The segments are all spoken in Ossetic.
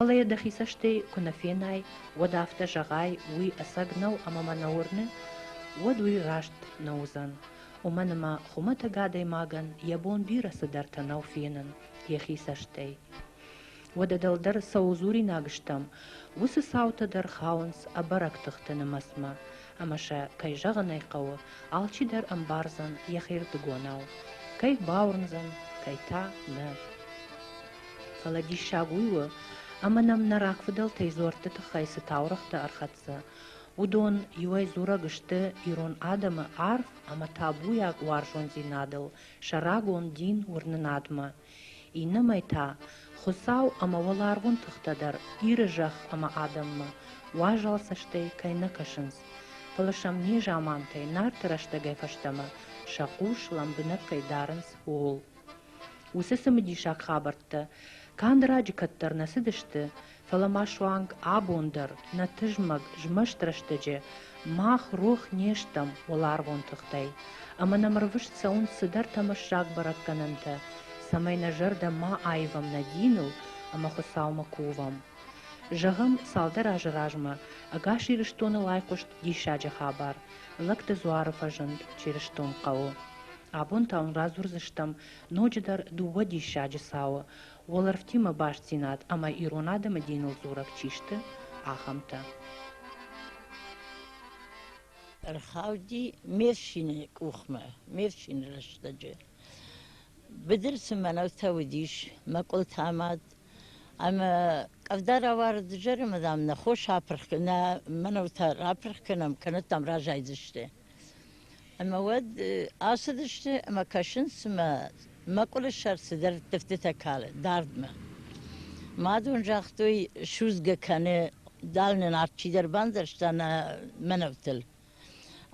Фӕлӕ йӕ дӕхи цӕстӕй куы нӕ фенай, уӕд афтӕ зӕгъай, уый ӕцӕг нӕу ӕмӕ мӕ нӕ уырны, уӕд уый раст нӕ уыдзӕн. Уымӕн ӕмӕ хуымӕтӕг адӕймагӕн йӕ бон бирӕ цыдӕртӕ нӕу фенын йӕхи цӕстӕй. Уӕдӕ дӕлдӕр цӕуыл дзуринаг стӕм, уыцы цаутӕ дӕр хауынц ӕбӕрӕг тыхты нымӕцмӕ, ӕмӕ сӕ, кӕй зӕгъын ӕй хъӕуы, алчидӕр ӕмбардзӕн йӕхирдыгонау, кӕй бауырндзӕн, кӕй та, нӕ. Фӕлӕ диссаг уый у, ӕмӕ нӕм нӕ рагфыдӕлтӕй дзуӕртты тыххӕй цы таурӕгътӕ ӕрхӕццӕ, уыдон иуӕй дзурӕг сты ирон адӕмы арф ӕмӕ табуйаг уарзондзинадыл сӕ рагон дин уырнынадмӕ, иннӕмӕй та, Хуыцау ӕмӕ уӕларвон тыхтӕ дӕр Иры зӕхх ӕмӕ адӕммӕ уазал цӕстӕй кӕй нӕ кӕсынц, фӕлӕ сӕм не замантӕй, Нарты рӕстӕгӕй фӕстӕмӕ сӕ хъус лӕмбынӕг кӕй дарынц, ууыл. Уыцы цымыдисаг хабӕрттӕ канд раджы кӕддӕр нӕ цыдысты, фӕлӕ ма суанг абон дӕр нӕ тызмӕг змӕст рӕстӕджы мах рох не стӕм уӕларвон тыхтӕй, ӕмӕ нӕм рвыст цӕуынц цыдӕр тӕмӕссаг бӕрӕггӕнӕнтӕ, цӕмӕй нӕ зӕрдӕ ма аивӕм нӕ диныл ӕмӕ Хуыцаумӕ кувӕм. Зӕгъӕм, цалдӕр азы размӕ Ӕгас Ирыстоны лайхъуыст диссаджы хабар, Лӕгты дзуары фӕзынд чырыстон хъӕуы. Абон та уын радзурдзыстӕм ноджыдӕр дыууӕ диссаджы цауы, уӕлӕрвтимӕ бастдзинад ӕмӕ ирон адӕмы диныл дзурӕг чи сты, ахӕмтӕ. Ӕрхауди Мершины къухмӕ, Мершины рӕстӕджы. Быдыр цы мӕнӕутӕ уыдис, мӕкъуылтӕ мад Ӕмӕ къӕвда равӕрд изӕры, мадам, нӕ хос апырх, нӕ мӕнӕутӕ рапырх кӕнӕм, кӕнӕ дам разайдзысты. Ӕмӕ уӕд ацыдысты ӕмӕ кӕсынц, цымӕ мӕкъуылы сӕр цыдӕр тыфтытӕ калы дардмӕ. Мад уын загътой, судзгӕ кӕны, дал нын арт чидӕр бандзӕрста нӕ мӕнӕутыл.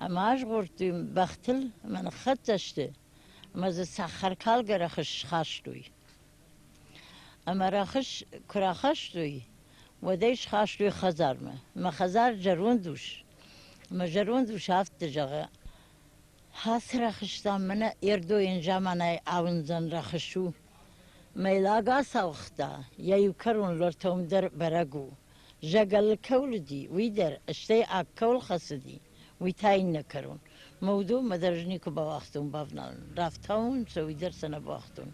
Ӕмӕ азгъордтой бӕхтыл, ӕмӕ ныххӕццӕ сты, ӕмӕ дзы цӕхӕркалгӕ рӕхыс схастой. Ӕмӕ рӕхыс куы рахастой, уӕд ӕй схастой хӕдзармӕ. Мӕ хӕдзар зӕронд ус. Мӕ зӕронд ус афтӕ зӕгъы, «Хацы рӕхыстам, мӕнӕ Ердойӕн заманай ауындзӕн рӕхыс у. Мӕйлаг ацауыгъта, йӕ иу кӕрон лортӕм дӕр бӕрӕг у. Зӕгӕлы кӕуыл уыди, уый дӕр, стӕй аг кӕуыл хӕцыди. уый та иннӕ кӕрон. Мӕ уыдон мӕ дӕр ӕз никуы бауагътон бавналын. Рафтауын сӕ, уый дӕр сӕ нӕ бауагътон.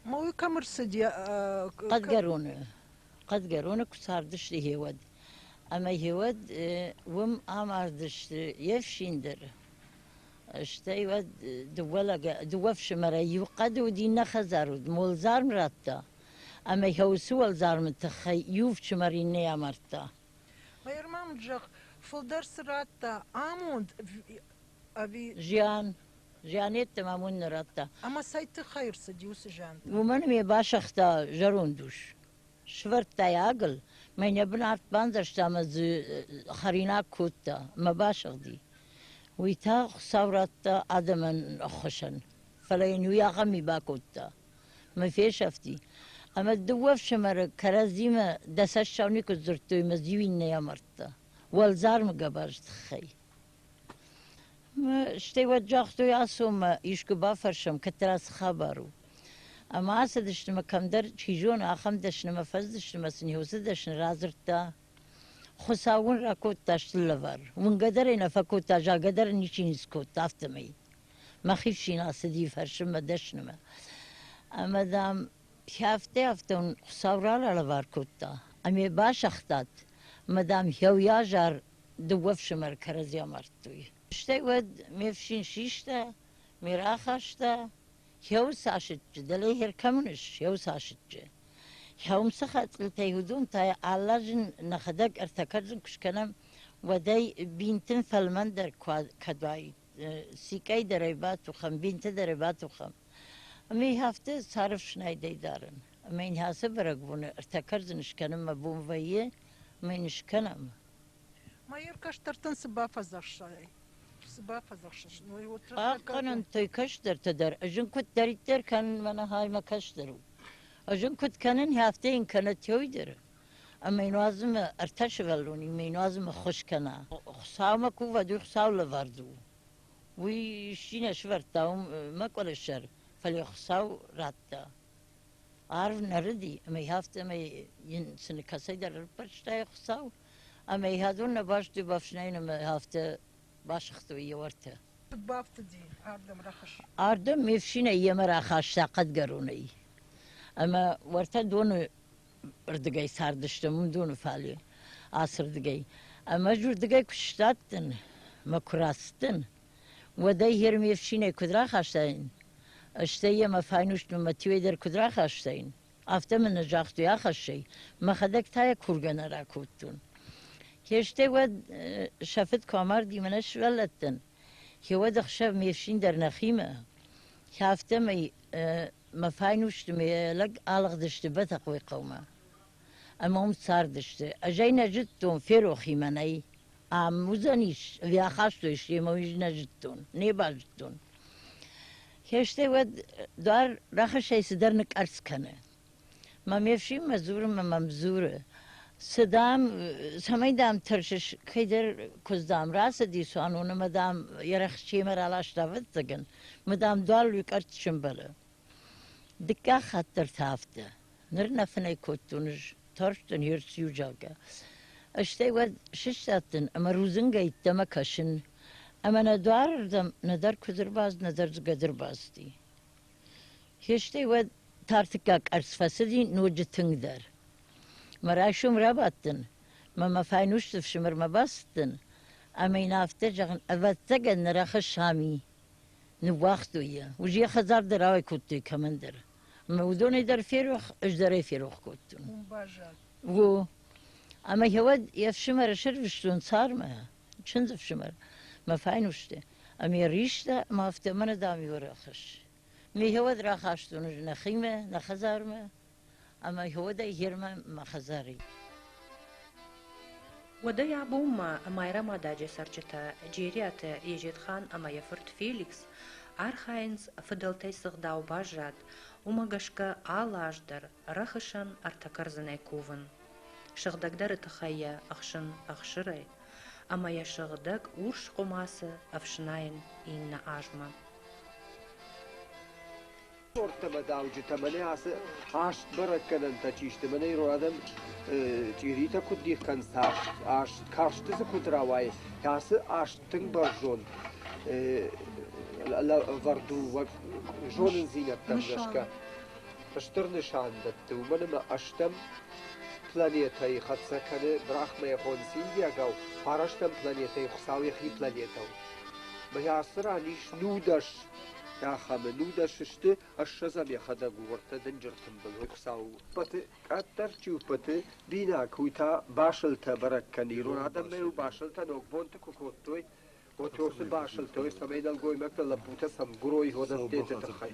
Ма уый кӕм ӕрцыди? Хъӕдгӕроны. Хъӕдгӕроны куы цардысты гъеуӕд. Ӕмӕ гъеуӕд уым амардысты йе фсин дӕр. Стӕй уӕд дыууӕ лӕг, дыууӕ ӕфсымӕрӕй иу хъӕды уыд, иннӕ хӕдзар уыд. Уӕлдзарм радта. Ӕмӕ йӕ уыцы уӕлдзармы тыххӕй иу фсымӕр иннӕйы амардта. Майрӕмам зӕгъ, фылдӕр цы радта, амонд ӕви... Зиан. Зианетты мӕм уын нӕ радта. Ӕмӕ цӕй тыххӕй ӕрцыди уыцы зиантӕ? Уымӕн ме басагъта зӕронд ус. Сывӕрдта йӕ агыл, мӕ нӕ бынат бандзӕрста ӕмӕ дзы хӕринаг кодта, мӕ басыгъди. Уый та Хуыцау радта адӕмӕн ӕххуысӕн. Фӕлӕ йын уый ахӕм ми бакодта. мӕ фесӕфти. Ӕмӕ дыууӕ ӕфсымӕры кӕрӕдзимӕ дӕсӕссау никуы дзырдтой ӕмӕ иу иннӕйы амардта. Уӕлдзармы гӕбаз тыххӕй. Стӕй уӕд загътой Ацомӕ, искуы бафӕрсӕм, кӕддӕра цы хабар у. Ӕмӕ ацыдысты мӕ кӕмдӕр, чи зоны, ахӕм дӕснымӕ фӕзыдысты мӕ сын уыцы дӕсны радзырдта. Хуыцау уын ракодта стыр лӕвар. Уынгӕ дӕр ӕй нӕ фӕкодта, загӕ дӕр ничи ницы кодта, афтӕмӕй. мӕхи фсин ацыди фӕрсынмӕ, дӕснымӕ. Ӕмӕ, дам, хӕфтӕ-хӕфтӕ уын Хуыцау ралӕвар кодта ӕмӕ басагътат, ӕмӕ, дам, хъӕуйӕ азар дыууӕ фсымӕры кӕрӕдзи амардтой. Стӕй уӕд ме фсин систа, ме рахаста хъӕуы цасыччы, дӕлӕ хӕр кӕмӕн ис, хъӕуы цасыччы. Хъӕуым цы хӕцъилтӕй уыдон та аллазын нӕхӕдӕг ӕртӕ кӕрдзын куы скӕнӕм, уӕдӕй бинтын фӕлмӕндӕр куы уаид. сիկъӕйдӕрӕй бацухӕм, бинтыдӕрӕй бацухӕм. Ӕмӕ их афтӕ цары фснайдӕй дарын. Ӕмӕ йын ацы бӕрӕгбоны ӕртӕ кӕрдзын скӕнын мӕ бон вӕййы, ӕмӕ йын скӕнӕм. Майор кӕстӕртӕн цы бафӕдзӕхсай? Цы бафӕдзӕхсыс? Хъахъхъӕнӕнтӕй кӕстӕртӕ дӕр, ӕз ын куыддӕриддӕр кӕнын, мӕнӕ хай мӕ кӕстӕр у. Ӕз ын куыд кӕнын, афтӕ йын кӕнӕ Теойдӕры. ӕмӕ йын уадзыны ӕртӕ сывӕллоны ме нуазыны ххуыс кӕна. Хуыцаумӕ кувӕд, уый Хуыцауы лӕвӕрд у. Уый исчи нӕ сӕвӕрдта уымӕ къуырысӕр, фӕлӕ йӕ Хуыцау радта. Арв нӕрыди, ӕмӕ йӕ афтӕмӕй йын цыны кӕцӕйдӕр ӕрбарвыста йӕ Хуыцау, ӕмӕ йӕ адон нӕ бӕсты бафснайын ӕмӕ афтӕ басыгътой йӕ уартӕ. Куыд бафтыди ардӕм рӕхыс? Ардӕм ме фсинӕй йемӕ рахаста хъӕдгӕронӕй, ӕмӕ уӕртӕ доны рдыгӕй цардысты уыдоны фале ацырдыгӕй. Ӕмӕ ӕз уырдыгӕй куы сдадтӕн, мӕ куы рацыдтӕн, уӕд ӕй йе рме фсинӕй куыд рахастаин, стӕй йӕ мӕ файнустмӕ Матвей дӕр куыд рахастаин, афтӕ мын нӕ загътой ахӕссӕй, мӕхӕдӕг та йӕ кургӕ нӕ ракодтон. Хестӕр уӕд сӕ фыд куы амарди мӕнӕ сывӕллӕттӕн, хиуӕд ӕхсӕв ме фсин дӕр нӕхимӕ, афтӕмӕй мӕ файнусты ме лӕг алыгъдысты Бӕтӕхъойы хъӕумӕ ӕмӕ уым цардысты. Ӕз ӕй нӕ зыдтон, ферохимӕ нӕй. Ам уыдзӕнис, ӕви ахастой семӕ, уый нӕ зыдтон, не базыдтон. Хестӕр уӕд дуар рӕхысӕй цыдӕр ныкъӕрцц кӕны. Мӕ ме фсинмӕ дзурын мӕ мӕм дзуры, цы, дам, цӕмӕй, дам, тӕрсыс, кӕйдӕр куыдз, дам, рацыди, цуанон ӕмӕ, дам, йӕ рӕхысчыимӕ раласта, ӕвӕццӕгӕн, мӕ, дам, дуар уый къӕртт сӕмбӕлы. Дыккаг хатт дӕр та афтӕ. Ныр нӕ фынӕй кодтон ӕз, тарстӕн йе рцу зӕгъгӕ. Стӕй уӕд сыстадтӕн ӕмӕ рудзынгӕй йеддӕмӕ кӕсын, ӕмӕ нӕ дуарырдӕм нӕдӕр куыдзы рбадт, нӕдӕр дзыгъӕды рбадти. Фести, уӕд тартыккаг къӕрцц фӕцыди ноджы тынгдӕр. Мӕ райсом рабадтӕн, мӕ мӕ файнусты фсымӕрмӕ бацыдтӕн, ӕмӕ йын афтӕ зӕгъын, ӕвӕццӕгӕн нӕ рахӕсс Сами. Ныууагътой йӕ. Уыз йӕ хӕдзар дӕр ауӕй кодтой кӕмӕндӕр. Мӕ уыдонӕй дӕр ферох, ӕз дӕр ӕй ферох кодтон. О. Ӕмӕ гъеуӕд йе фсымӕры сӕрвыстон цармӕ. чындз ӕфсымӕр мӕ файнусты ӕмӕ йӕ риста ӕмӕ афтӕ мӕнӕ дам иу ӕрӕххӕсс ме хиуӕд рахастон ӕз нӕхимӕ нӕ хӕдзармӕ ӕмӕ иуӕдӕй гермӕ мӕ хӕдзарӕй уӕдӕй абонмӕ майрӕмададжы цӕрджытӕ джериаты езетхан ӕмӕ йӕ фырт феликс архайынц фыдӕлтӕй цы гъдау баззад уымӕ гӕсгӕ алы аз дӕр рӕхысӕн ӕртӕ кӕрдзынӕй кувын Сыгъдӕгдӕры тыххӕй йӕ ӕхсын ӕхсырӕй ӕмӕ йӕ сыгъдӕг урс хъуымацы ӕфснайын иннӕ азмӕ. Тортӕ-мӕдауджытӕ мӕнӕ ацы хаст бӕрӕггӕнӕнтӕ чи сты, мӕнӕ ирон адӕм чъиритӕ куыд дих кӕнынц аст, карсты дзы куыд рауайы, ацы аст тынг бӕрзонд лӕвӕрд у уӕ зонындзинӕдтӕм гӕсгӕ. стыр нысан дӕтты, уымӕн ӕмӕ ӕстӕм планетӕйы хӕццӕ кӕны брахмӕйхон синдийагау, фарӕстӕм планетӕйы Хуыцау йӕхи планетӕ у. Мӕ ацы ран ис нудӕс ахӕмы. Нудӕс сты, ӕссӕдзӕм йӕхӕдӕг у, уӕртӕ дынджыр тымбыл уый Хуыцау у. Уппӕты, къаддӕр чи уппӕты, бинаг, уый та басылтӕ бӕрӕг кӕны. Ирон адӕммӕ-иу басылтӕ ногбонты куы кодтой, уӕд уыцы басылтӕ, цӕмӕй нӕлгоймӕгтӕ лӕппутӕ сӕм гуырой уыдӕттӕ тыххӕй.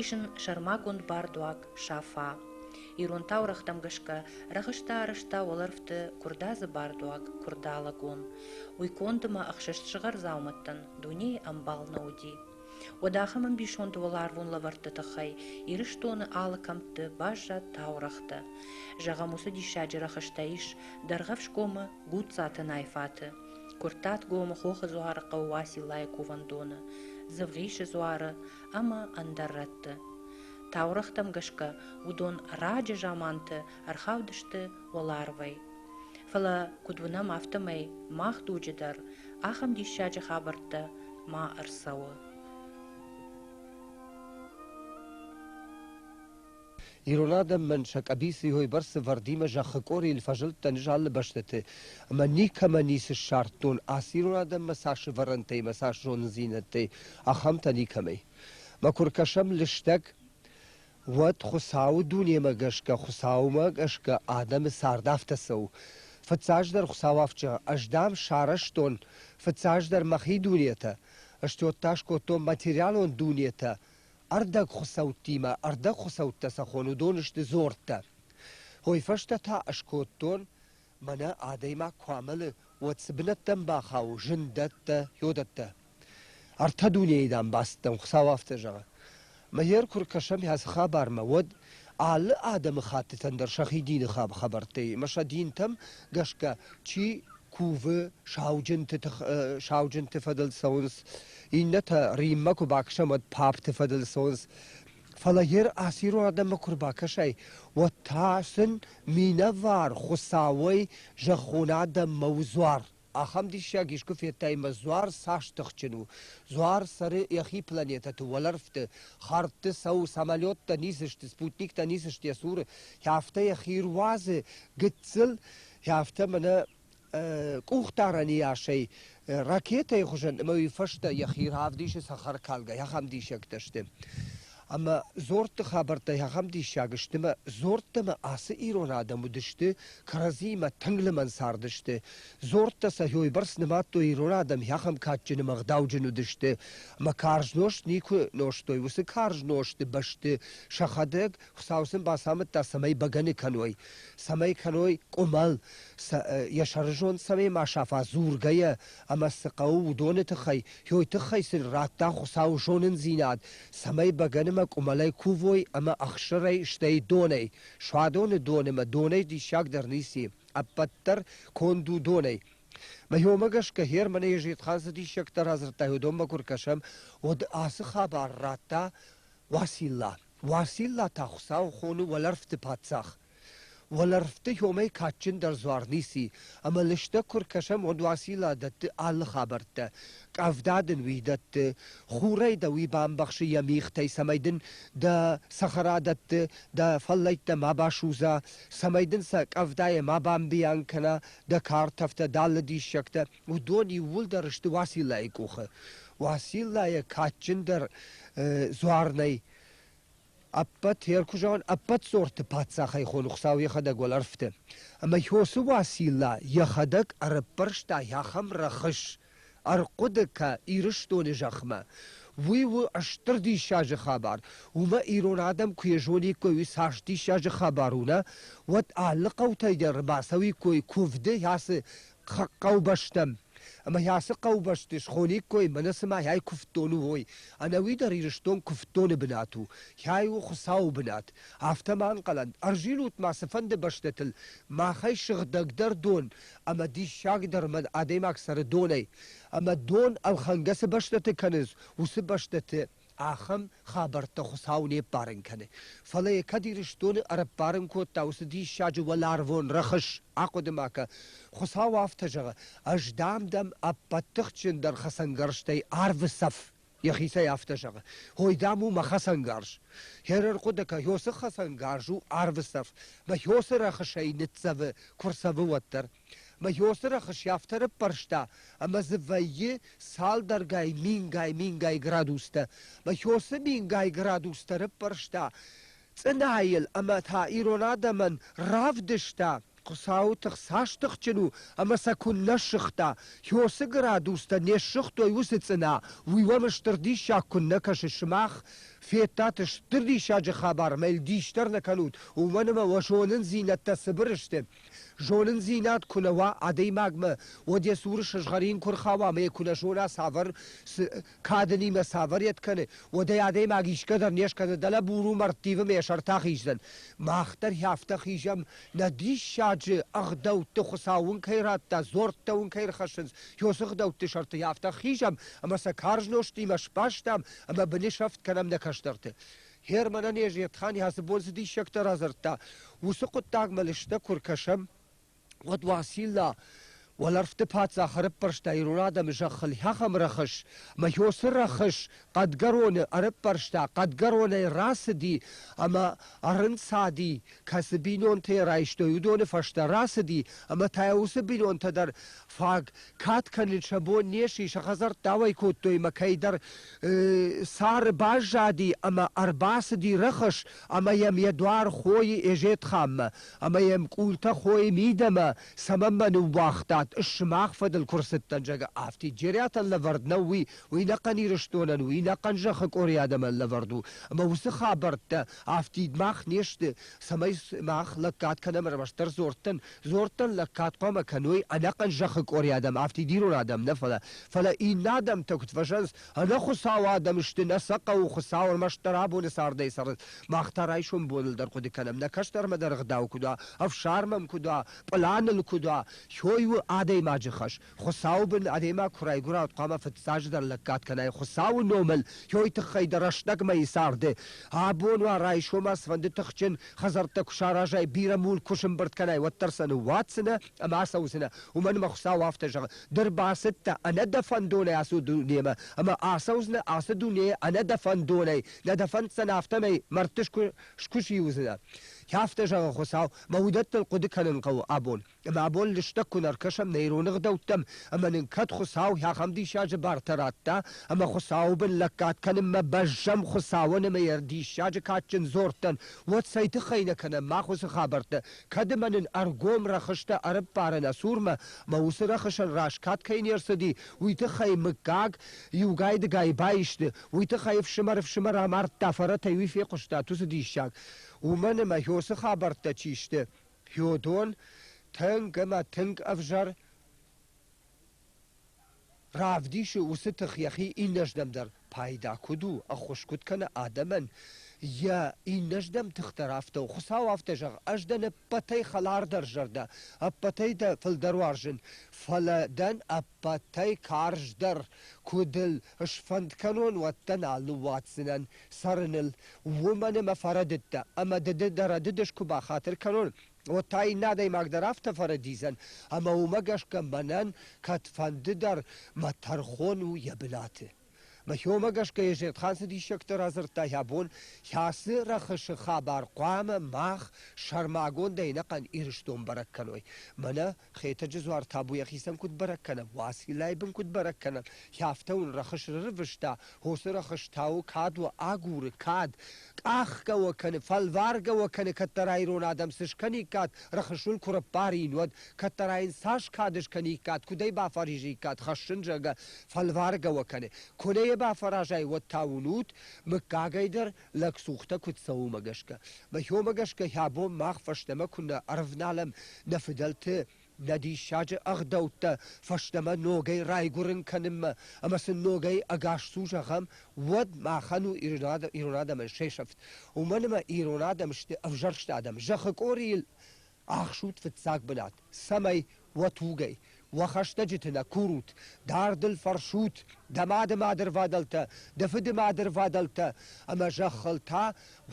Ис ын сӕрмагонд бардуаг Сафа. Ирон таурӕгътӕм гӕсгӕ рахызта-рызта уӕлӕрвты куырдадзы бардуаг Куырдалыгон. Уый конд ӕмӕ ӕхсӕст сыгъар дзаумӕттӕн дунейы ӕмбал нӕ уыди. Уӕд ахӕм ӕмбисонд уӕларвон лӕвӕртты тыххӕй Ирыстоны алы кӕмтты баззад таурӕгътӕ. Зӕгъӕм, уыцы диссаджы рӕхыстӕ ис Дӕргъӕфсгомы Гудцаты Найфаты. куырттатгомы хохы дзуары хъӕу уациллайы кувӕндоны дзывгъисы дзуары ӕмӕ ӕндӕр рӕтты таурӕгътӕм гӕсгӕ уыдон раджы заманты ӕрхаудысты уӕларвӕй фӕлӕ куыд уынӕм афтӕмӕй мах дуджы дӕр ахӕм диссаджы хабӕрттӕ ма ӕрцӕуы Ирон адӕмӕн сӕ къӕбицыйой бӕрцы Вардимӕ зӕххы къорийыл фӕзылдтӕн залы бӕстӕты ӕмӕ никӕмӕ ницы ссардтон ацы ирон адӕммӕ сӕ сывӕрӕнтӕй ӕмӕ сӕ зондзинӕдтӕй, ахӕмтӕ никӕмӕй. Мӕ куы ркӕсӕм лыстӕг, уӕд Хуыцауы дунемӕ гӕсгӕ, Хуыцаумӕ гӕсгӕ адӕмы цард афтӕ цӕуы. Фыццаджыдӕр Хуыцауӕвджы ӕз, дам, сарӕзтон, фыццаджыдӕр мӕхи дунетӕ, стёт та скодтон материалон дунетӕ, Ӕрдӕгхуыцӕуттимӕ ӕрдӕгхуыцӕуттӕ цӕххон уыдон сты дзорттӕ. Уый фӕстӕ та скодтон, мӕнӕ адӕймаг куы амӕлы, уӕд цы бынӕттӕм бахауы, зындӕттӕ, йодӕттӕ. Ӕртӕ дунейы дамбацтӕм Хуыцау афтӕ зӕгъы. Мыер куы ркӕсӕм ацы хабармӕ, уӕд алы адӕмыхӕттытӕн дӕр сӕхи дины хабхабӕрттӕ и, ӕмӕ сӕ динтӕм гӕсгӕ чи кувы, сауджынты тых, сауджынты фӕдыл цӕуынц Иннӕтӕ Риммӕ куы бакӕсӕм, уӕд папты фӕдыл цӕуынц. Фӕлӕ йе расирон адӕммӕ куы рбакӕсай, уӕд та сын минӕвар Хуыцауӕй зӕххон адӕммӕ у дзуар. Ахӕм диссаг искуы федтай ӕмӕ дзуар цас тыхджын у. Дзуар цӕры йӕхи планетӕты уӕлӕрвты, хӕрдты цӕуы, самолеттӕ ницы сты, спутниктӕ ницы сты йӕ цуры, афтӕ йӕхи руадзы гыццыл, афтӕ мӕнӕ къухдарӕн иасӕй ракетӕйы хуызӕн ӕмӕ уый фӕстӕ йӕхи равдисы цӕхӕркалгӕ, ахӕм диссӕгтӕ сты. Ӕмӕ дзордты хабӕрттӕ ахӕм диссаг сты, ӕмӕ дзордтӕмӕ ацы ирон адӕм уыдысты, кӕрӕдзиимӕ тынг лымӕн цардысты. Дзордтӕ сӕ хойбӕрц нымадтой ирон адӕм, ахӕм кадджын ӕмӕ ӕгъдауджын уыдысты, ӕмӕ карз нозт никуы нозтой. Уыцы карз нозты бӕсты сӕхӕдӕг Хуыцау сын бацамыдта, цӕмӕй бӕгӕны кӕной, цӕмӕй кӕной къуымӕл, сӕ, йӕ сӕрызонд цӕмӕй ма сафа дзургӕйӕ, ӕмӕ цы хъӕуы, уыдоны тыххӕй, йой тыххӕй сын радта Хуыцауы зонындзинад, цӕмӕй бӕгӕнымӕ къуымӕлӕй кувой ӕмӕ ӕхсырӕй, стӕй донӕй, суадоны донымӕ, донӕй диссагдӕр ницы, ӕппӕт дӕр конд у донӕй. Мӕ уымӕ гӕсгӕ Хер мӕнӕ Езетхан цы диссӕгтӕ радзырдта, уыдонмӕ куы ркӕсӕм, уӕд ацы хабар радта Уацилла. Уацилла та Хуыцауы хоны уӕлӕрвты паддзах. Уӕлӕрвты хьомӕй кадджындӕр дзуар ницы, ӕмӕ лыстӕг куы ркӕсӕм, уӕд Уацилла дӕтты алы хабӕрттӕ, къӕвда дын уый дӕтты, хурӕй дӕ уый бамбӕхсы йӕ мигътӕй, цӕмӕй дын дӕ цӕхӕра дӕтты, дӕ фӕллӕйттӕ ма басудза, цӕмӕй дын сӕ къӕвдайӕ ма бамбийанг кӕна дӕ картӕфтӕ, дӕ алы диссӕгтӕ. уыдон иууылдӕр сты Уациллайы къухы. Уацилла йӕ кадджындӕр дзуар нӕй. Ӕппӕт ӕркуызон, ӕппӕт сорты паддзахӕй хон Хуыцау йӕхӕдӕг уӕлӕрвты. Ӕмӕ Йосы Уацилла йӕхӕдӕг ӕрӕппӕрста ахӕм рӕхыс, ӕрхъуыды кӕ Ирыстоны зӕхмӕ. Уый у стыр диссаджы хабар. Уымӕ ирон адӕм куы йӕзониккой, уый цас диссаджы хабар у, нӕ? Уӕд алы хъӕутӕй дӕр ӕрбацӕуиккой куывды, ацы хъӕубӕстӕм. Ӕмӕ йӕ ацы хъӕубӕсты схониккой, мӕнӕ цымӕ йӕй куывддон у, уой. Ӕнӕуи дӕр Ирыстон куывддоны бынат у, йӕй у Хуыцауы бынат. Афтӕ ма ӕнхъӕлӕн, ӕрзилут ма цыфӕнды бӕстӕтыл, махӕй сыгъдӕгдӕр дон ӕмӕ диссагдӕр мӕн адӕймаг цӕры донӕй. Ӕмӕ дон ӕлхӕнгӕ цы бӕстӕты кӕнынц, уыцы бӕстӕты Ахӕм хабӕрттӕ Хуыцау не мбарын кӕны. Фӕлӕ йӕ кӕд Ирыстоны ӕрӕмбарын кодта уыцы диссаджы уӕларвон рӕхыс, ахъуыды ма кӕ. Хуыцау афтӕ зӕгъы: Ӕз дам дӕм ӕппӕт тыхджындӕр хӕцӕнгӕрзтӕй арвы цӕф. Йӕхицӕй афтӕ зӕгъы: Ой, дам, у мӕ хӕцӕнгарз. Хӕрар хъуыды кӕ, Иосы хӕцӕнгарз у арвы цӕф, мӕ Иосы рӕхысӕй ныццӕвы, куы рцӕвы, уӕддӕр. Мӕ ёсырӕхы сӕфтӕр ӕппӕрста, ӕмӕ дзы вӕййы цалдӕргай мингай-мингай градустӕ. Мӕ ёсы мингай градустӕ рыппӕрста цъынайыл ӕмӕ та ирон адӕмӕн равдыста, Хуыцауы тых цас тыхджын у ӕмӕ сӕ куыннӕ ссыгъта, ёсы градустӕ не ссыгътой уыцы цъына, уый уӕм стыр диссаг куыннӕ кӕсы сымах. Федтат стыр диссаджы хабар, мӕ йыл дис дӕр нӕ кӕнут, уымӕн ӕмӕ уӕ зонындзинӕдтӕ цыбыр сты. Зонындзинад куы нӕ уа адӕймагмӕ, уӕд йӕ цуры сызгъӕрин куы рхауа ӕмӕ йӕ куы нӕ зона цавӕр, цы, кадынимӕ цавӕр йед кӕны, уӕд ӕй адӕймаг исгӕ дӕр не скӕны, дӕлӕ буру мӕрдтивы мӕ йӕ сӕртӕ хиздзӕн. Мах дӕр афтӕ хизӕм, нӕ диссаджы ӕгъдӕутты Хуыцау уын кӕй радта, дзуӕрттӕ уын кӕй ӕрхӕссынц, йӕ уыцы ӕгъдӕутты сӕрты афтӕ хизӕм, ӕмӕ сӕ карз нозтимӕ сбастам ӕмӕ бынысӕфт кӕнӕм нӕ кӕстӕрты. Германӕн Езетхан ацы бон цы диссӕгтӕ радзырдта, уыцы хъуыддагмӕ лыстӕг куы ркӕсӕм, уӕд Уасилла уӕлӕрвты паддзах ӕрыппӕрста ирон адӕмы зӕххыл хӕхӕм рӕхыс, ӕмӕ Йосы рӕхыс хъӕдгӕроны ӕрыппӕрста, хъӕдгӕронӕй рацыди ӕмӕ ӕрынцади, кӕцы бинонтӕ райстой, уыдоны фӕстӕ рацыди ӕмӕ та уыцы бинонтӕ дӕр фаг кад кӕнын сӕ бон не сси, сӕ хӕдзӕрттӕ ауӕй кодтой ӕмӕ кӕйдӕр э, сӕры баззади ӕмӕ ӕрбацыди рӕхыс ӕмӕ йӕм йӕ дуар хойы Эжетханмӕ ӕмӕ йӕм къултӕ хойы мидӕмӕ, цӕмӕн мӕ ныууагътат, ыс сымах фӕдыл куы рцыдтӕн, зӕгъы, афтид джериатӕн лӕвӕрд нӕу, уый, уый нӕхъӕн Ирыстонӕн, уый нӕхъӕн зӕххы къорийы адӕмӕн лӕвӕрд у, ӕмӕ уыцы хабӕрттӕ Афтид мах не сты, цӕмӕй сымах лӕггад кӕнӕм ӕрмӕстдӕр дзордтӕн. Дзордтӕн лӕггад хъуамӕ кӕной ӕнӕхъӕн зӕххы къори адӕм, афтид ирон адӕм нӕ, фӕлӕ фӕлӕ иннӕ адӕмтӕ куыд фӕзӕнынц, ӕнӕхуыцау адӕм сты, нӕ сӕ хъӕуы Хуыцау ӕрмӕстдӕр абоны цардӕй цӕрын. Мах та райсом боныл дӕр хъуыды кӕнӕм, нӕ кӕстӕрмӕ дӕр ӕгъдау куыд уа, ӕфсарм ӕм куыд уа, пълан ыл куыд уа, кӕй у адӕймаджы хӕс, Хуыцауы бын адӕймаг куы райгуырӕуд, хъуамӕ фыццаджыдӕр лӕггад кӕнай Хуыцауы номыл, йой тыххӕй дӕ рӕстӕгмӕ и царды. Абон уа, райсомӕ цыфӕнды тыхджын хӕдзӕрттӕ куы саразай, бирӕ мулк куы сӕмбырд кӕнай, уӕддӕр сӕ ныууадздзынӕ ӕмӕ ацӕудзынӕ. Уымӕн ӕмӕ Хуыцау афтӕ зӕгъы, Ды рбацыдтӕ ӕнӕ дӕ фӕндонӕй ацы дунемӕ, ӕмӕ ацӕудзынӕ ацы дунейы ӕнӕ дӕ фӕндонӕй. Нӕ дӕ фӕнддзӕн, афтӕмӕй мӕрдты скуы скуыси уыдзынӕ. Афтӕ зӕгъы Хуыцау, мӕ уыдӕттыл хъуыды кӕнын хъӕуы абон. Ӕмӕ абон лыстӕг куы нӕ ӕркӕсӕм нӕ ирон ӕгъдӕуттӕм ӕмӕ нын кӕд Хуыцау ахӕм диссаджы бартӕ радта, ӕмӕ Хуыцауы бын лӕггад кӕнынмӕ бӕззӕм Хуыцауӕн ӕмӕ йӕ диссаджы кадджын дзордтӕн, уӕд цӕй тыххӕй нӕ кӕнӕм мах уыцы хабӕрттӕ, кӕд ӕмӕ нын ӕргом рӕхыстӕ ӕрыппары нӕ цурмӕ, ӕмӕ уыцы рӕхысӕн раз кад кӕй не рцыди, уый тыххӕй мыггаг иугай-дыгай баисты, уый тыххӕй ӕфсымӕр-ӕфсымӕр амардта, фӕрӕтӕй уый фехъуыстат уыцы диссаг. Уымӕн ӕмӕ, ё цы хабӕрттӕ чи сты, Феодон тынг ӕмӕ тынг ӕвзӕр равдисы уыцы тых йӕхи иннӕрдӕм дӕр пайда куыд у, ӕххуыс куыд кӕны адӕмӕн, йӕ иннӕрдӕм тых дӕр афтӕ у. Хуыцау афтӕ зӕгъ, ӕз дӕн ӕппӕтӕй хӕлардӕр зӕрдӕ, ӕппӕтӕй дӕ фылдӕр уарзын, фӕлӕ дӕн Ӕппӕтӕй карздӕр, куыд ыл сфӕнд кӕнон, уӕддӕн алы уадздзынӕн цӕрыныл, уымӕн ӕмӕ фӕрӕдыдтӕ, ӕмӕ дыды дӕ рӕдыдыс куы бахатыр кӕнон, уӕд та иннӕ адӕймаг дӕр афтӕ фӕрӕдидзӕн, ӕмӕ уымӕ гӕсгӕ мӕнӕн кӕдфӕндыдӕр мӕ тӕрхон у йӕ бынаты. Мӕхиомӕ гӕсгӕ Езетхан цы диссӕгтӕ радзырдта йӕ бон, кӕцы рӕхысы хабар хъуамӕ мах сӕрмагондӕй ӕнӕхъӕн Ирыстон бӕрӕг кӕной. Мӕнӕ Хетӕджы дзуар табу йӕхицӕн куыд бӕрӕг кӕнӕм, Уациллайы бын куыд бӕрӕг кӕнӕм, кӕфтӕ уын рӕхыс рырвыста, хосы рӕхыс та у кад уӕ агуры, кад, къахгӕ уӕ кӕны, фӕлваргӕ уӕ кӕны, кӕддӕра ирон адӕм цы скӕниккат, рӕхысуыл куы раппарин, уӕд, кӕддӕра йын цас кады скӕниккат, куыд ӕй бафӕризиккат, хӕссын, зӕгъгӕ, фӕлваргӕ уӕ кӕны. Куы нӕ йӕ бафӕразай, уӕд та уынут, мыггагӕй дӕр лӕгцухтӕ куыд цӕуы уымӕ гӕсгӕ. Мӕ хомӕ гӕсгӕ, хӕ бон мах фӕстӕмӕ куыннӕ ӕрывналӕм нӕ фыдӕлты Нӕ диссаджы ӕгъдӕуттӕ фӕстӕмӕ ногӕй райгуырын кӕнынмӕ ӕмӕ сын ногӕй ӕгасцу зӕгъӕм, уӕд махӕн у ирон адӕмӕн се сӕфт. Уымӕн ӕмӕ ирон адӕм сты ӕвзӕрст адӕм. Зӕххы къорийыл ӕхсут фыццаг бынат, цӕмӕй уӕ тугӕй, уӕ хӕстӕджыты нӕ курут, дардыл фӕрсут дӕ мады мадырвадӕлтӕ, дӕ фыды мадырвадӕлтӕ ӕмӕ зӕххыл та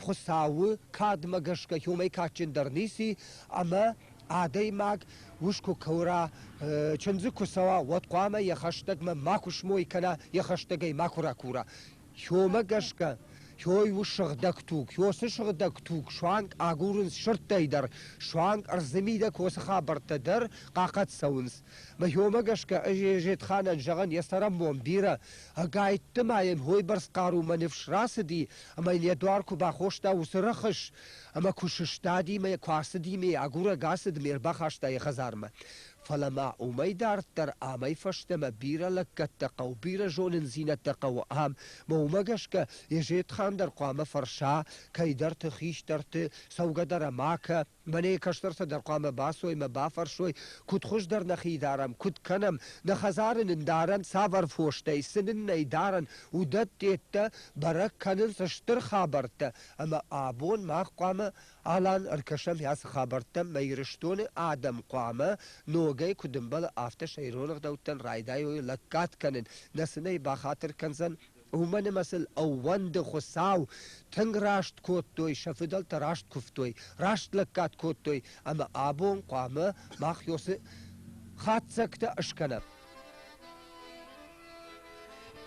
Хуыцауы кадмӕ гӕсгӕ уымӕй кадджындӕр ницы, ӕмӕ адӕймаг ус куы кӕура, чындзы куы цӕуа, уӕд хъуамӕ йӕ хӕстӕгмӕ макуы смой кӕна, йӕ хӕстӕгӕй макуы ракура. Хьомӕ гӕсгӕ хьой у сыгъдӕг туг. Хьосы сыгъдӕг туг суанг агурынц сырдтӕй дӕр, суанг ӕрдзы мидӕг уыцы хабӕрттӕ дӕр хъахъӕд цӕуынц. Мӕ хьомӕ гӕсгӕ Зетханӕн зӕгъӕн йӕ цӕрӕнбон бирӕ Ӕгӕйтты ма йын хойбӕрц хъарумӕ ныфс рацыди, ӕмӕ йын йӕ дуар куы бахоста уыцы рӕхыс, ӕмӕ куы сыстади мӕ куы ацыди мӕ агурӕг ацыдмӕ ӕрбахаста йӕ хӕдзармӕ. Фӕлӕ ма уымӕй дарддӕр амӕй фӕстӕмӕ бирӕ лӕггӕдтӕ хъӕуы, бирӕ зонындзинӕдтӕ хъӕуы ам, мӕ уымӕ гӕсгӕ Езетхан дӕр хъуамӕ фӕрса, кӕйдӕрты, хистӕрты, цӕугӕ дӕр ӕмӕ, кӕ, Мӕнӕ кӕстӕртӕ дӕр хъуамӕ бацой мӕ бафӕрсой, куыд хуыздӕр нӕхи дарӕм, куыд кӕнӕм, нӕ хӕдзары нын дарӕн цавӕр фостӕй, цы нын нӕй дарӕн, уыдӕттӕ, бӕрӕг кӕнынц стыр хабӕрттӕ, ӕмӕ абон мах хъуамӕ Алан ӕркӕсӕм ацы хабӕрттӕм, мӕ Ирыстоны адӕм хъуамӕ ногӕй куыд ӕмбӕлы, афтӕ сӕ ирон ӕгъдӕуттӕн райдайой лӕггад кӕнын, нӕ сын ӕй бахатыр кӕндзӕн Уымӕн ӕмӕ сыл ӕууӕнды Хуыцау, тынг раст кодтой, сӕ фыдӕлтӕ раст куывтой, раст лӕггад кодтой, ӕмӕ абон хъуамӕ мах Ёсы хатдзӕгтӕ скӕнӕм.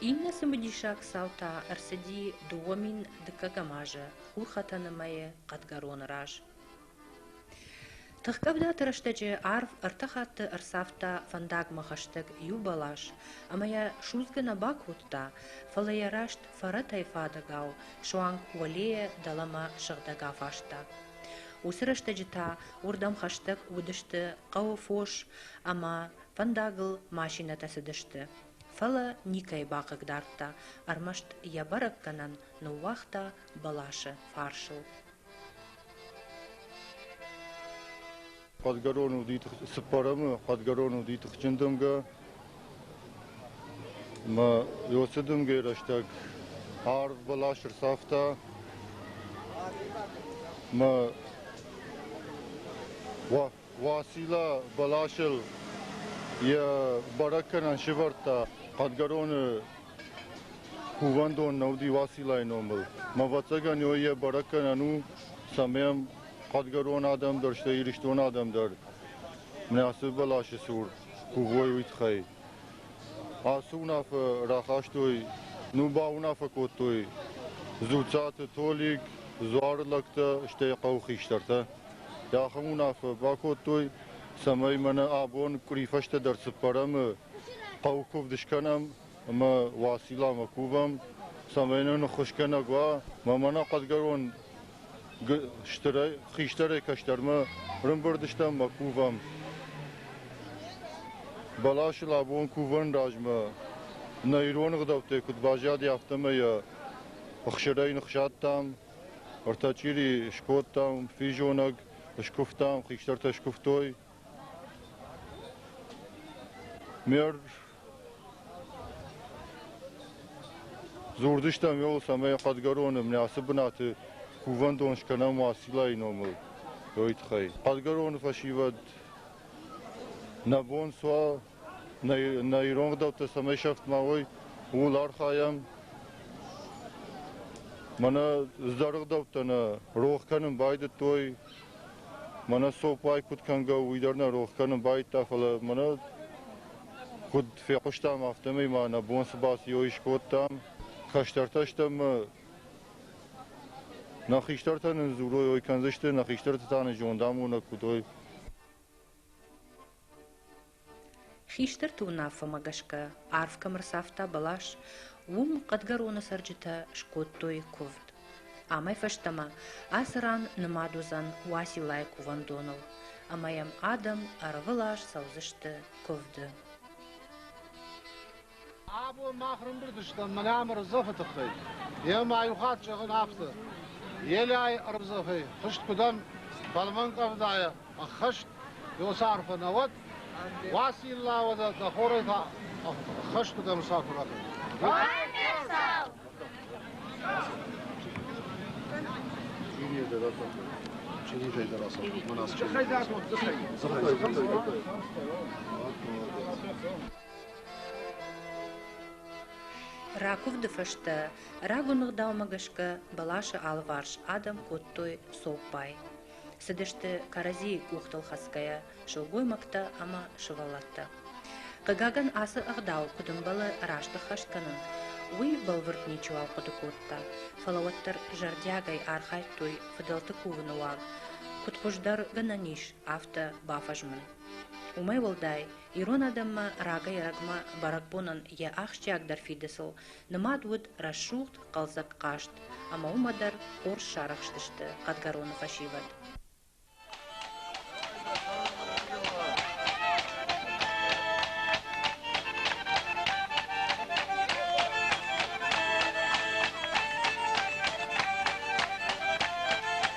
Иннӕ цымыдисаг цау та ӕрцыди дыууӕ мин дыккӕгӕм азы Хурхӕтӕны мӕйы хъӕдгӕроны раз. Тыхкъӕвдаты рӕстӕджы арв ӕртӕ хатты ӕрцавта фӕндагмӕ хӕстӕг иу бӕлас, ӕмӕ йӕ судзгӕ нӕ бакодта, фӕлӕ йӕ раст фӕрӕтӕй фадӕгау суанг уӕлейӕ дӕлӕмӕ сыгъдӕг афаста. Уыцы рӕстӕджы та уырдӕм хӕстӕг уыдысты хъӕуы фос ӕмӕ фӕндагыл машинӕтӕ цыдысты, фӕлӕ никӕй бахъыгдардта, ӕрмӕст йӕ бӕрӕггӕнӕн ныууагъта бӕласы фарсыл. Хъӕдгӕрон уыди цыппӕрӕмы, хъӕдгӕрон уыди тыхджын дымгӕ. Мӕ Иосы дымгӕйы рӕстӕг арв бӕлас ӕрцавта. Мӕ уа Уасила бӕласыл йӕ бӕрӕггӕнӕн сывӕрдта. Хъӕдгӕроны кувӕндон нӕ уыди Уасилайы номыл. Ӕвӕццӕгӕн, ой йӕ бӕрӕггӕнӕн у, цӕмӕй ам хъӕдгӕрон адӕм дӕр, стӕй Ирыстон адӕм дӕр, мӕ ацы бӕласы цур кувой, уый тыххӕй. Ацы уынаффӕ рахастой, ну бауынаффӕ кодтой Дзуццаты Толик, дзуары лӕгтӕ, стӕй хъӕуы хистӕртӕ. Ахӕм уынаффӕ бакодтой, цӕмӕй мӕнӕ абон къуыри фӕстӕдӕр цыппӕрӕмы хъӕу куывд скӕнӕм ӕмӕ Уацилламӕ кувӕм, цӕмӕй нын ныххуысгӕнӕг уа, мӕ мӕнӕ хъӕдгӕрон хистӕрӕй кӕстӕрмӕ рымбырдыстӕм мӕ кувӕм. Бӕласыл абон кувӕн размӕ нӕ ирон ӕгъдӕуттӕй куыд баззади, афтӕмӕй йӕ ӕхсырӕй ныхсадтам, ӕртӕчъири скодтам, физонӕг скуывтам, хистӕртӕ скуывтой. Ме Дзурдыстӕм Иолс ӕмӕ йӕ Хъӕдгӕроны мнӕцы бынаты кувӕндон скӕнӕм Уациллайы номыл, уый тыххӕй. Хъӕдгӕроны фӕсивӕд нӕ бон суа, нӕ, нӕ ирон гъдӕуттӕ цӕмӕй сӕфт ма уой, ууыл архайӕм. Мӕнӕ ӕздӕры гъдӕуттӕ нӕ рох кӕнын байдыдтой, Мӕнӕ цоппай куыд кӕнгӕ, уый дӕр нӕ рох кӕнын байдта, фӕлӕ мӕнӕ куыд фехъуыстам, афтӕмӕй ма нӕ бон цы бацийо искодтам. Кӕстӕртӕ стӕм ӕмӕ нӕ хистӕртӕ нын дзурой, ой кӕндзысты, нӕ хистӕрты та нын зондамонӕг куыд ой. Хистӕрты уынаффӕмӕ гӕсгӕ арв кӕм ӕрцавта бӕлас, уым хъӕдгӕроны цӕрджытӕ скодтой куывд. Амӕй фӕстӕмӕ ацы ран нымад уыдзӕн Уациллайы кувӕндоныл, ӕмӕ йӕм адӕм ӕрвылаз цӕудзысты куывды. Абон мах рымбырд стӕм Млӕмы рдзӕфы тыххӕй. Йӕ ма иу хатт зӕгъын афтӕ, Елӕйы ӕрдзӕфӕй хызт куыд ӕм фӕлмӕн къӕвдайӕ ӕххӕст ёсы арфӕ нӕ уӕд, Уацилла уӕдӕ дӕ хорӕй та ӕххӕст куыд ӕмсар куы ракӕн. Чинитӕй дӕр асахт, мӕн аз чинит. Дзыхӕй, дзыхӕй. Ракуывды фӕстӕ рагон ӕгъдаумӕ гӕсгӕ бӕласы алыварс адӕм кодтой цоппай. Цыдысты кӕрӕдзийы къухтыл хӕцгӕйӕ сылгоймӕгтӕ ӕмӕ сывӕллӕттӕ. Хъыгагӕн, ацы ӕгъдау куыд ӕмбӕлы раст ӕххӕст кӕнын, уый бӕлвырд ничиуал хъуыды кодта, фӕлӕ уӕддӕр зӕрдиагӕй архайдтой фыдӕлты кувыны уаг, куыд хуыздӕр гӕнӕн ис, афтӕ бафӕзмын. Уымӕй уӕлдай, Ирон адӕммӕ рагӕй-рӕгмӕ бӕрӕгбонӕн йӕ ахсджиагдӕр фидыцыл нымад уыд рӕсугъд, хъӕлдзӕг хъазт, ӕмӕ уымӕ дӕр хорз сарӕхстысты хъӕдгӕроны фӕсивӕд.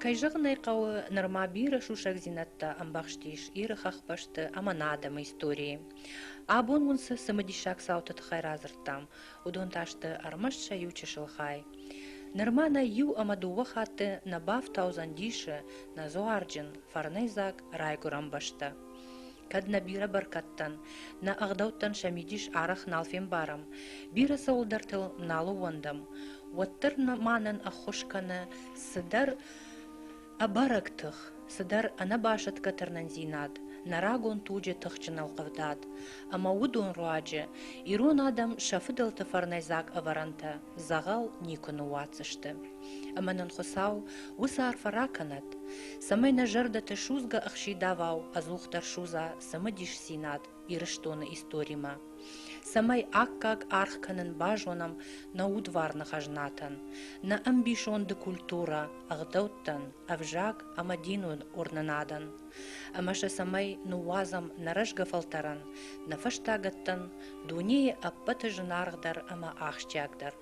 кӕй зӕгъын ӕй хъӕуы нырма бирӕ сусӕгдзинӕдтӕ ӕмбӕхстис иры хӕхбӕсты ӕмӕ нӕ адӕмы историйы абон уын цы цымыдисаг цауты тыххӕй радзырдтам уыдон та сты ӕрмӕст сӕ иу чысыл хай нырма нӕ иу ӕмӕ дыууӕ хатты нӕ бафтаудзӕн дисы нӕ дзуарджын фӕрнӕйдзаг райгуырӕн бӕстӕ Кӕд нӕ бирӕ бӕркӕдтӕн, нӕ ӕгъдӕуттӕн сӕ мидис арӕх нал фембарӕм, бирӕ цӕуылдӕртыл нал ууӕндӕм, уӕддӕр мӕнӕн ӕххуыс кӕны цыдӕр ӕбӕрӕг тых, цыдӕр ӕнӕбасӕтгӕ тырнындзинад, нӕ рагон туджы тыхджын ӕлхъывдад ӕмӕ уыдон руаджы ирон адӕм сӕ фыдӕлты фӕрнӕйдзаг ӕвӕрӕнтӕ дзӕгъӕл никуы ныууадздзысты. Ӕмӕ нын Хуыцау уыцы арфӕ ракӕнӕд, цӕмӕй нӕ зӕрдӕты судзгӕ ӕхсидавау ӕдзухдӕр судза цымыдисдзинад Ирыстоны историмӕ, цӕмӕй аккаг аргъ кӕнын базонӕм нӕ удварны хӕзнатӕн, нӕ ӕмбисонды культурӕ, ӕгъдӕуттӕн, ӕвзаг ӕмӕ динон уырнынадӕн, ӕмӕ сӕ цӕмӕй ныууадзӕм нӕ рӕзгӕ фӕлтӕрӕн, нӕ фӕстагӕттӕн, дунейы ӕппӕты зынаргъдӕр ӕмӕ ахсджиагдӕр.